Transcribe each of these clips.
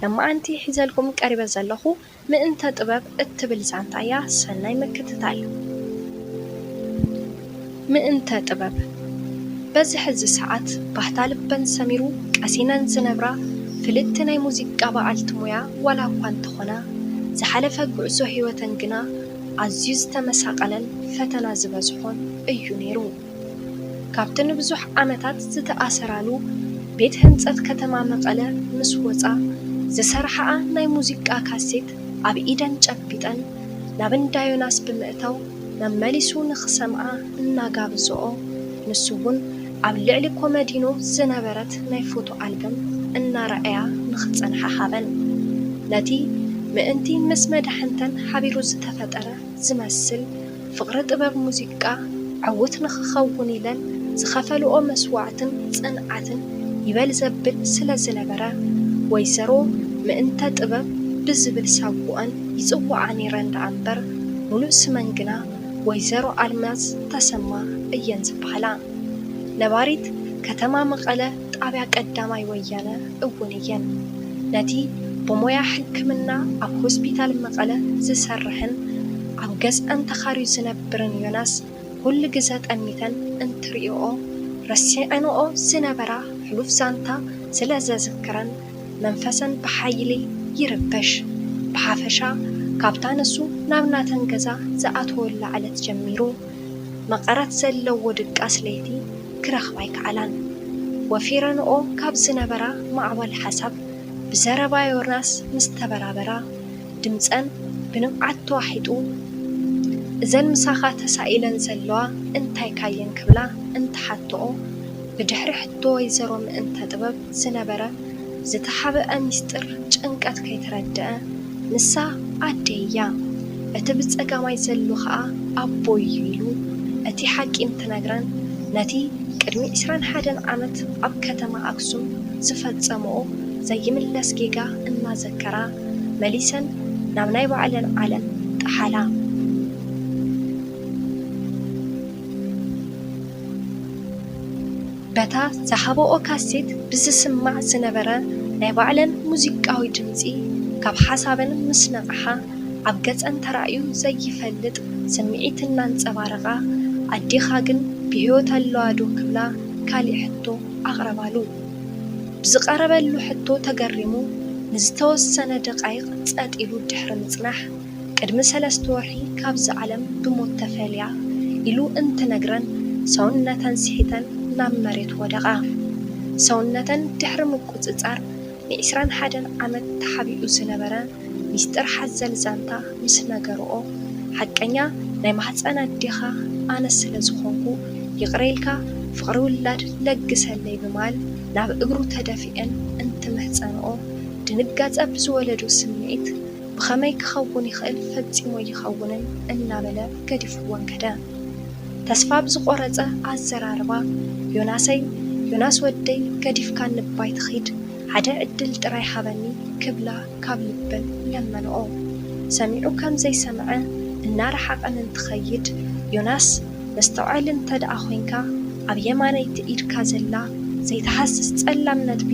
ለማዓንቲ ሒዘልኩም ቀሪበ ዘለኹ ምእንተ ጥበብ እትብል ዛንታ እያ ሰናይ ምክትታል። ምእንተ ጥበብ በዚ ሕዚ ሰዓት ባህታ ልበን ሰሚሩ ቀሲነን ዝነብራ ፍልጥቲ ናይ ሙዚቃ በዓልቲ ሞያ ዋላ እኳ እንተኾና ዝሓለፈ ጉዕዞ ሂወተን ግና ኣዝዩ ዝተመሳቀለን ፈተና ዝበዝሖን እዩ ኔሩ። ካብቲ ንብዙሕ ዓመታት ዝተኣሰራሉ ቤት ህንፀት ከተማ መቐለ ምስ ወፃ ዝሰርሓኣ ናይ ሙዚቃ ካሴት ኣብ ኢደን ጨቢጠን ናብ እንዳ ዮናስ ብምእታው መመሊሱ ንኽሰምዓ እናጋበዘኦ ንሱ እውን ኣብ ልዕሊ ኮመዲኖ ዝነበረት ናይ ፎቶ ኣልበም እናረኣያ ንኽፀንሓ ሃበን። ነቲ ምእንቲ ምስ መዳሕንተን ሓቢሩ ዝተፈጠረ ዝመስል ፍቕሪ ጥበብ ሙዚቃ ዕዉት ንኽኸውን ኢለን ዝኸፈልኦ መስዋእትን ፅንዓትን ይበል ዘብል ስለ ዝነበረ ወይዘሮ ምእንተ ጥበብ ብዝብል ሳጉኣን ይፅውዓ ነይረን ደኣ እምበር ሙሉእ ስመን ግና ወይዘሮ ኣልማዝ ተሰማ እየን ዝበሃላ። ነባሪት ከተማ መቐለ ጣብያ ቀዳማይ ወያነ እውን እየን። ነቲ ብሞያ ሕክምና ኣብ ሆስፒታል መቐለ ዝሰርሕን ኣብ ገዝኣን ተኻርዩ ዝነብርን ዮናስ ኹሉ ግዘ ጠሚተን እንትሪእኦ ረሲዐንኦ ዝነበራ ሕሉፍ ዛንታ ስለ ዘዝክረን መንፈሰን ብሓይሊ ይርበሽ። ብሓፈሻ ካብታ ንሱ ናብ ናተን ገዛ ዝኣተወላ ዕለት ጀሚሩ መቐረት ዘለዎ ድቃስ ለይቲ ክረኽባ ኣይከኣላን። ወፊረንኦ ካብ ዝነበራ ማዕበል ሓሳብ ብዘረባ ዮናስ ምስ ተበራበራ፣ ድምጸን ብንብዓት ተዋሒጡ፣ እዘን ምሳኻ ተሳኢለን ዘለዋ እንታይካ'የን ክብላ እንትሓትኦ፣ ብድሕሪ ሕቶ ወይዘሮ ምእንተ ጥበብ፣ ዝነበረ ዝተሓብኧ ሚስጢር ጭንቀት ከይተረድኣ ንሳ ኣደይ እያ እቲ ብጸጋማይ ዘሉ ከኣ ኣቦይ እዩ ኢሉ እቲ ሓቂ እንትነግረን ነቲ ቅድሚ ዕስራን ሓደን ዓመት ኣብ ከተማ ኣክሱም ዝፈጸምኦ ዘይምለስ ጌጋ እናዘከራ መሊሰን ናብ ናይ ባዕለን ዓለም ጠሓላ። በታ ዝሃባኦ ካሴት ብዝስማዕ ዝነበረ ናይ ባዕለን ሙዚቃዊ ድምጺ ካብ ሓሳበን ምስ ነቕሓ ኣብ ገጸን ተራእዩ ዘይፈልጥ ስምዒት እናንጸባረቓ ኣዴኻ ግን ብሕይወት ኣለዋ ዶ ክብላ ካሊእ ሕቶ ኣቕረባሉ። ብዝቐረበሉ ሕቶ ተገሪሙ ንዝተወሰነ ደቓይቕ ጸጥ ኢሉ ድሕሪ ምጽናሕ፣ ቅድሚ ሰለስተ ወርሒ ካብዚ ዓለም ብሞት ተፈልያ ኢሉ እንትነግረን ሰውነተን ስሒተን ናብ መሬት ወደቓ። ሰውነተን ድሕሪ ምቁጽጻር ንዒስራን ሓደን ዓመት ተሓቢኡ ዝነበረ ሚስጥር ሓዘል ዛንታ ምስ ነገርኦ ሓቀኛ ናይ ማህጸን ኣዴኻ ኣነ ስለ ዝኾንኩ ይቕረ ኢልካ ፍቕሪ ውላድ ለግሰለይ ብማል ናብ እግሩ ተደፊኤን እንትምሕጸንኦ ድንጋጸ ብዝወለዶ ስምዒት ብኸመይ ክኸውን ይኽእል ፈጺሙ ኣይኸውንን እናበለ ገዲፍወን ከደ። ተስፋ ብዝቖረጸ ኣዘራርባ፣ ዮናሰይ ዮናስ ወደይ ገዲፍካኒ እባ ኣይትኺድ ሓደ ዕድል ጥራይ ሃበኒ ክብላ ካብ ልበን ለመንኦ። ሰሚዑ ከም ዘይሰምዐ እናረሓቐን እንትኸይድ ዮናስ መስተውዐሊ እንተ ደኣ ኮይንካ ኣብ የማነይቲ ኢድካ ዘላ ዘይትሃስስ ጸላም ነጥቢ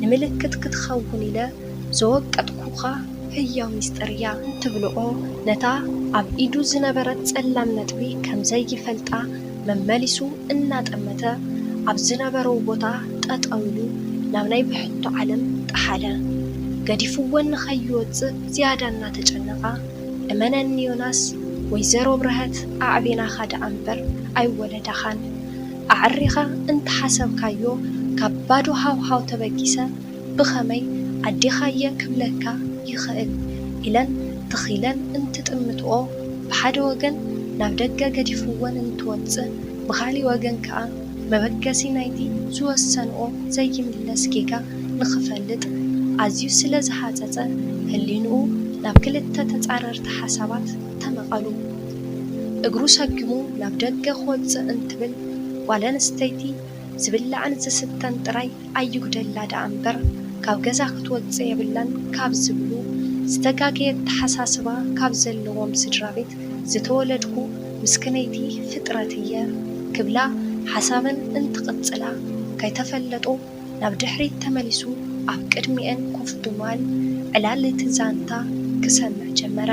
ንምልክት ክትኸውን ኢለ ዘወቀጥኩኻ ህያው ምስጢር እያ ትብልኦ ነታ ኣብ ኢዱ ዝነበረት ጸላም ነጥቢ ከም ዘይፈልጣ መመሊሱ እናጠመተ ኣብ ዝነበረው ቦታ ጠጠው ኢሉ ናብ ናይ ብሕቶ ዓለም ጠሓለ። ገዲፍወን ንኸይወጽእ ዝያዳ እናተጨነቓ፣ እመነኒ ዮናስ፣ ወይዘሮ ብርሀት ኣዕቢናኻ ደኣ እምበር ኣይወለዳኻን። ኣዐሪኻ እንተሓሰብካዮ ካብ ባዶ ሃውሃው ተበጊሰ ብኸመይ ኣዴኻ'የ ክብለካ ይኽእል ኢለን ተኺለን እንትጥምትኦ ብሓደ ወገን ናብ ደገ ገዲፍወን እንትወጽእ ብኻሊእ ወገን ከኣ መበገሲ ናይቲ ዝወሰንኦ ዘይምለስ ጌጋ ንኽፈልጥ ኣዝዩ ስለ ዝሃጸጸ ህሊንኡ ናብ ክልተ ተጻረርቲ ሓሳባት ተመቐሉ። እግሩ ሰጊሙ ናብ ደገ ክወጽእ እንትብል ጓለንስተይቲ ዝብላዕን ዝስተን ጥራይ ኣይጉደላ ደኣ እምበር ካብ ገዛ ክትወጽእ የብላን ካብ ዝብሉ ዝተጋገየ ኣተሓሳስባ ካብ ዘለዎም ስድራቤት ዝተወለድኩ ምስክነይቲ ፍጥረት እየ ክብላ ሓሳበን እንትቕጽላ ከይተፈለጦ ናብ ድሕሪት ተመሊሱ ኣብ ቅድሚኤን ኮፍ ብምባል ዕላል እቲ ዛንታ ክሰምዕ ጀመረ።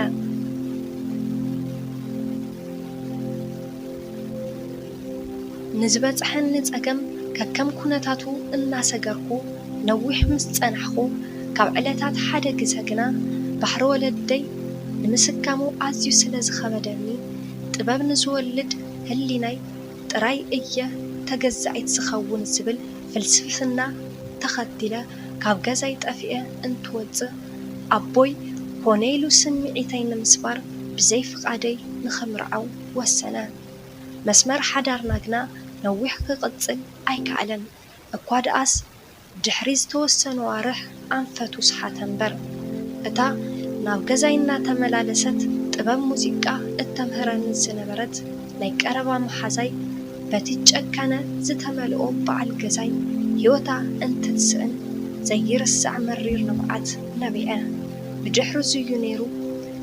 ንዝበጽሐኒ ጸገም ከከም ኩነታቱ እናሰገርኩ ነዊሕ ምስ ጸናሕኩ፣ ካብ ዕለታት ሓደ ግዘ ግና ባሕሪ ወለደይ ንምስካሙ ኣዝዩ ስለ ዝኸበደኒ፣ ጥበብ ንዝወልድ ህሊናይ ጥራይ እየ ተገዛኢት ዝኸውን ዝብል ፍልስፍና ተኸቲለ ካብ ገዛይ ጠፊኤ እንትወጽእ፣ ኣቦይ ኮነ ኢሉ ስምዒተይ ንምስባር ብዘይ ፍቓደይ ንኽምርዓው ወሰነ። መስመር ሓዳርና ግና ነዊሕ ክቕጽል ኣይከኣለን። እኳ ደኣስ ድሕሪ ዝተወሰኑ ኣዋርሕ ኣንፈቱ ሰሓተ እምበር። እታ ናብ ገዛይ እናተመላለሰት ጥበብ ሙዚቃ እተምህረኒ ዝነበረት ናይ ቀረባ መሓዛይ በቲ ጨካነ ዝተመልኦ በዓል ገዛይ ህይወታ እንትትስእን ዘይርሳዕ መሪር ንብዓት ነቢዐ። ብድሕሪ'ዚ'ዩ ነይሩ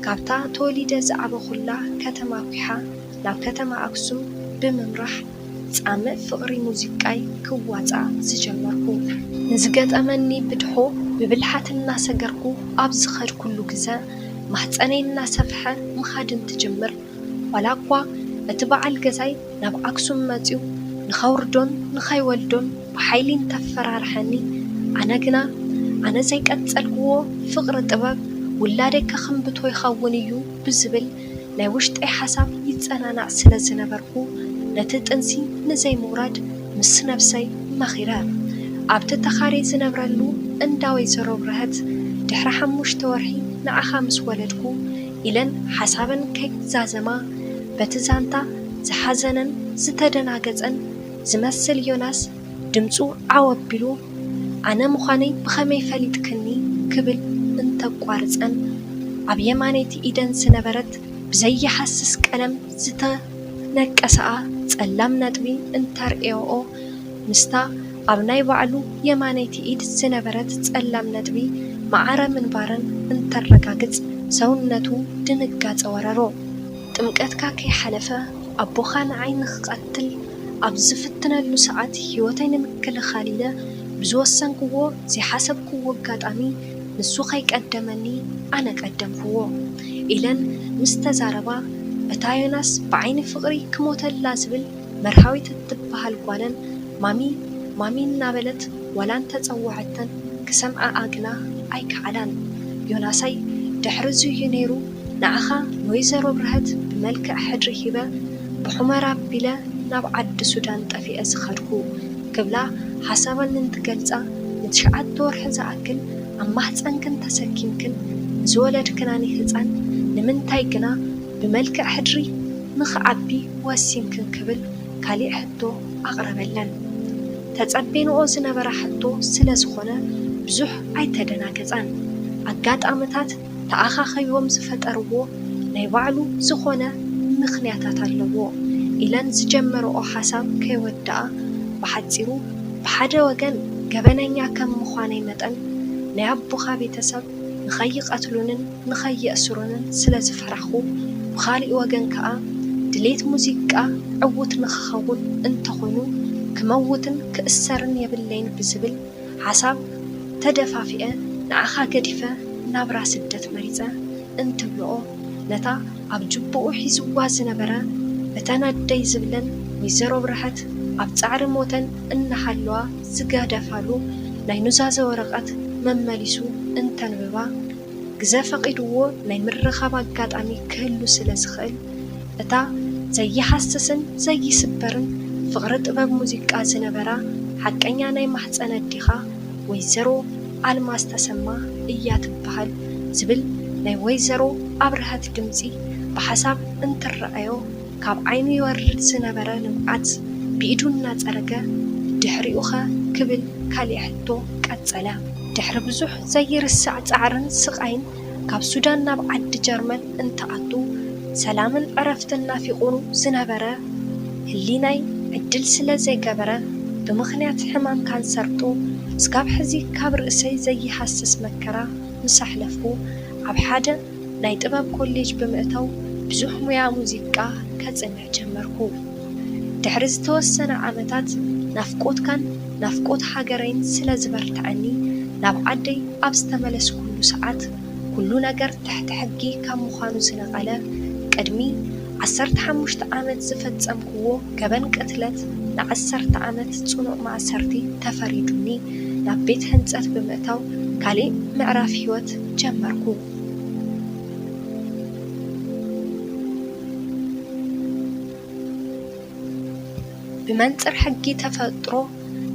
ካብታ ተወሊደ ዝዓበኹላ ከተማ ኲሓ፣ ናብ ከተማ ኣክሱም ብምምራሕ ጻምእ ፍቕሪ ሙዚቃይ ክዋጻእ ዝጀመርኩ። ንዝገጠመኒ ብድሆ ብብልሓት እናሰገርኩ ኣብ ዝኸድኩሉ ግዘ ማህጸነይ እናሰፍሐ ምኻድ እንትጅምር ዋላ እኳ እቲ በዓል ገዛይ ናብ ኣክሱም መጺኡ ንኸውርዶን ንኸይወልዶን ብሓይሊ እንተፈራርሐኒ ኣነ ግና ኣነ ዘይቀጸልክዎ ፍቕሪ ጥበብ ውላደይ ከኽምብቶ ይኸውን እዩ ብዝብል ናይ ውሽጠይ ሓሳብ ይጸናናዕ ስለ ዝነበርኩ፣ ነቲ ጥንሲ ንዘይምውራድ ምስ ነብሰይ መኺረ። ኣብቲ ተኻርየ ዝነብረሉ እንዳ ወይዘሮ ብርሀት፣ ድሕሪ ሓሙሽተ ወርሒ ንዓኻ ምስ ወለድኩ፣ ኢለን ሓሳበን ከይዛዘማ፣ በቲ ዛንታ ዝሓዘነን ዝተደናገጸን ዝመስል ዮናስ፣ ድምጹ ዓው ኣቢሉ፣ ኣነ ምዃነይ ብኸመይ ፈሊጥክኒ? ክብል እንተቋርጸን፣ ኣብ የማነይቲ ኢደን ዝነበረት ብዘይሃስስ ቀለም ዝተነቀሰኣ ጸላም ነጥቢ እንተርእያኦ፣ ምስታ ኣብ ናይ ባዕሉ የማነይቲ ኢድ ዝነበረት ጸላም ነጥቢ ማዕረ ምንባረን እንተረጋግጽ ሰውነቱ ድንጋጸ ወረሮ። ጥምቀትካ ከይሓለፈ ኣቦኻ ንዓይ ንኽቐትል ኣብ ዝፍትነሉ ሰዓት ህይወተይ ንምክልኻል ኢለ ብዝወሰንክዎ ዘይሓሰብክዎ ኣጋጣሚ ንሱ ከይቀደመኒ ኣነ ቀደምክዎ ኢለን ምስ ተዛረባ እታ ዮናስ ብዓይኒ ፍቕሪ ክሞተላ ዝብል መርሃዊት እትበሃል ጓለን ማሚ ማሚ እናበለት ዋላ እንተፀወዐተን ክሰምዐኣ ግና ኣይከኣላን ዮናሰይ ድሕሪ እዙይ እዩ ነይሩ ንዓኻ ንወይዘሮ ብርሀት ብመልክዕ ሕድሪ ሂበ ብሑመራ ኣቢለ ናብ ዓዲ ሱዳን ጠፊኤ ዝኸድኩ ክብላ ሓሳበን እንትገልፃ ንትሽዓተ ወርሒ ዝኣክል ኣብ ማህፀንክን ተሰኪምክን ንዝወለድክናኒ ህፃን ንምንታይ ግና ብመልክዕ ሕድሪ ንኽዓቢ ወሲንክን ክብል ካሊእ ሕቶ ኣቕረበለን ተፀቤንኦ ዝነበራ ሕቶ ስለዝኾነ ብዙሕ ኣይተደናገፃን ኣጋጣምታት ተኣኻኺቦም ዝፈጠርዎ ናይ ባዕሉ ዝኾነ ምኽንያታት ኣለዎ ኢለን ዝጀመረኦ ሓሳብ ከይወደኣ ብሓፂሩ ብሓደ ወገን ገበነኛ ከም ምዃነይ መጠን ናይ ኣቦኻ ቤተሰብ ንኸይቐትሉንን ንኸየእስሩንን ስለዝፈራኹ ብኻሊእ ወገን ከዓ ድሌት ሙዚቃ ዕዉት ንኽኸውን እንተኾይኑ ክመውትን ክእሰርን የብለይን ብዝብል ሓሳብ ተደፋፊኤ ንዓኻ ገዲፈ ናብራ ስደት መሪጸ እንትብልኦ ነታ ኣብ ጁቡኡ ሒዝዋ ዝነበረ እተን ኣደይ ዝብለን ወይዘሮ ብርሀት ኣብ ጻዕሪ ሞተን እናሃለዋ ዝገደፋሉ ናይ ኑዛዘ ወረቀት መመሊሱ እንተንብባ ግዘ ፈቒድዎ ናይ ምርኻብ ኣጋጣሚ ክህሉ ስለ ዝኽእል፣ እታ ዘይሃስስን ዘይስበርን ፍቕሪ ጥበብ ሙዚቃ ዝነበራ ሓቀኛ ናይ ማህጸን ኣዴኻ ወይዘሮ ኣልማዝ ተሰማ እያ ትበሃል ዝብል ናይ ወይዘሮ ኣብርሀት ድምጺ ብሓሳብ እንትረኣዮ፣ ካብ ዓይኑ ይወርድ ዝነበረ ንብዓት ብኢዱ እናጸረገ፣ ድሕሪኡኸ? ክብል ካሊእ ሕቶ ቀጸለ። ድሕሪ ብዙሕ ዘይርሳዕ ጻዕርን ስቓይን ካብ ሱዳን ናብ ዓዲ ጀርመን እንትኣቱ፣ ሰላምን ዕረፍትን ናፊቑ ዝነበረ ህሊናይ ዕድል ስለ ዘይገበረ፣ ብምኽንያት ሕማም ካንሰርጡ እስካብ ሕዚ ካብ ርእሰይ ዘይሃስስ መከራ ምስ ኣሕለፍኩ፣ ኣብ ሓደ። ናይ ጥበብ ኮሌጅ ብምእታው ብዙሕ ሙያ ሙዚቃ ከጽንዕ ጀመርኩ። ድሕሪ ዝተወሰነ ዓመታት ናፍቆትካን ናፍቆት ሃገረይን ስለ ዝበርትዐኒ ናብ ዓደይ ኣብ ዝተመለስኩሉ ሰዓት ኩሉ ነገር ትሕቲ ሕጊ ካብ ምዃኑ ዝነቐለ ቅድሚ ዓሰርተ ሓሙሽተ ዓመት ዝፈጸምክዎ ገበን ቅትለት ንዓሰርተ ዓመት ጽኑዕ ማእሰርቲ ተፈሪዱኒ ናብ ቤት ሕንጸት ብምእታው ካሊእ ምዕራፍ ሕይወት ጀመርኩ። ብመንጽር ሕጊ ተፈጥሮ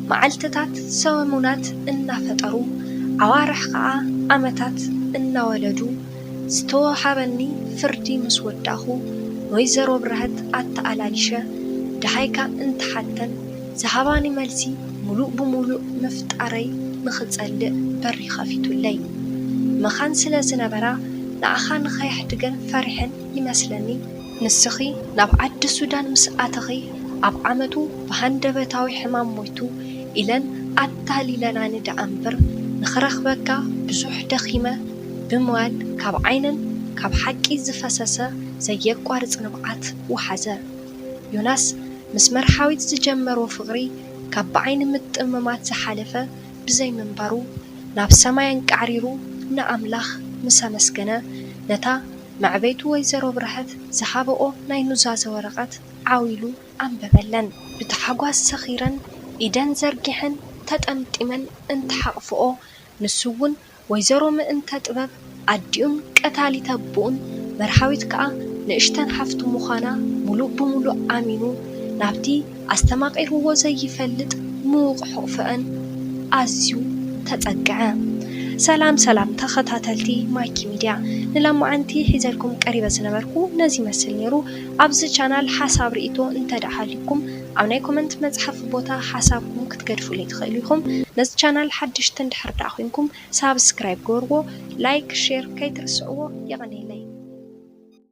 መዓልትታት ሰሙናት እናፈጠሩ፣ ኣዋርሕ ከኣ ዓመታት እናወለዱ ዝተወሃበኒ ፍርዲ ምስ ወዳእኩ፣ ንወይዘሮ ብርሀት ኣተኣላሊሸ ደሃይካ እንተሓተን፣ ዝሃባኒ መልሲ ምሉእ ብምሉእ ምፍጣረይ ንኽጸልእ በሪ ኸፊቱለይ መኻን ስለ ዝነበራ፣ ንኣኻ ንኸየሕድገን ፈሪሐን ይመስለኒ። ንስኺ ናብ ዓዲ ሱዳን ምስ ኣተኺ፣ ኣብ ዓመቱ ብሃንደበታዊ ሕማም ሞይቱ ኢለን ኣታሊለናኒ ደኣ'ምብር፣ ንኽረኽበካ ብዙሕ ደኺመ ብምባል ካብ ዓይነን ካብ ሓቂ ዝፈሰሰ ዘየቋርጽ ንብዓት ወሓዘ። ዮናስ ምስ መርሓዊት ዝጀመሮ ፍቕሪ ካብ ብዓይኒ ምጥምማት ዝሓለፈ ብዘይምንባሩ ናብ ሰማይ ኣንቃዕሪሩ ንኣምላኽ ምስ ኣመስገነ ነታ መዕበይቱ ወይዘሮ ብርሀት ዝሃበኦ ናይ ኑዛዘ ወረቐት ዓው ኢሉ ኣንበበለን። ብታሕጓስ ሰኺረን ኢደን ዘርጊሐን ተጠምጢመን እንትሓቕፍኦ ንሱ'ውን ወይዘሮ ምእንተ ጥበብ ኣዲኡን ቀታሊት ኣቡኡን መርሃዊት ከኣ ንእሽተን ሓፍቱ ምዃና ምሉእ ብምሉእ ኣሚኑ ናብቲ ኣስተማቒርዎ ዘይፈልጥ ምዉቕ ሕቑፈኣን ኣዝዩ ተጸግዐ። ሰላም ሰላም ተኸታተልቲ ማይኪ ሚድያ ንለማዓንቲ ሒዘልኩም ቀሪበ ዝነበርኩ ነዚ ይመስል ኔሩ ኣብዚ ቻናል ሓሳብ ሪኢቶ እንተድኣ ሃልዩኩም ኣብ ናይ ኮመንት መፅሓፊ ቦታ ሓሳብኩም ክትገድፉለይ ትክእሉ ኢኩም ነዚ ቻናል ሓድሽቲ እንድሕር ዳኣ ኮይንኩም ሳብስክራይብ ግበርዎ ላይክ ሼር ከይትርስዕዎ የቀንየለይ።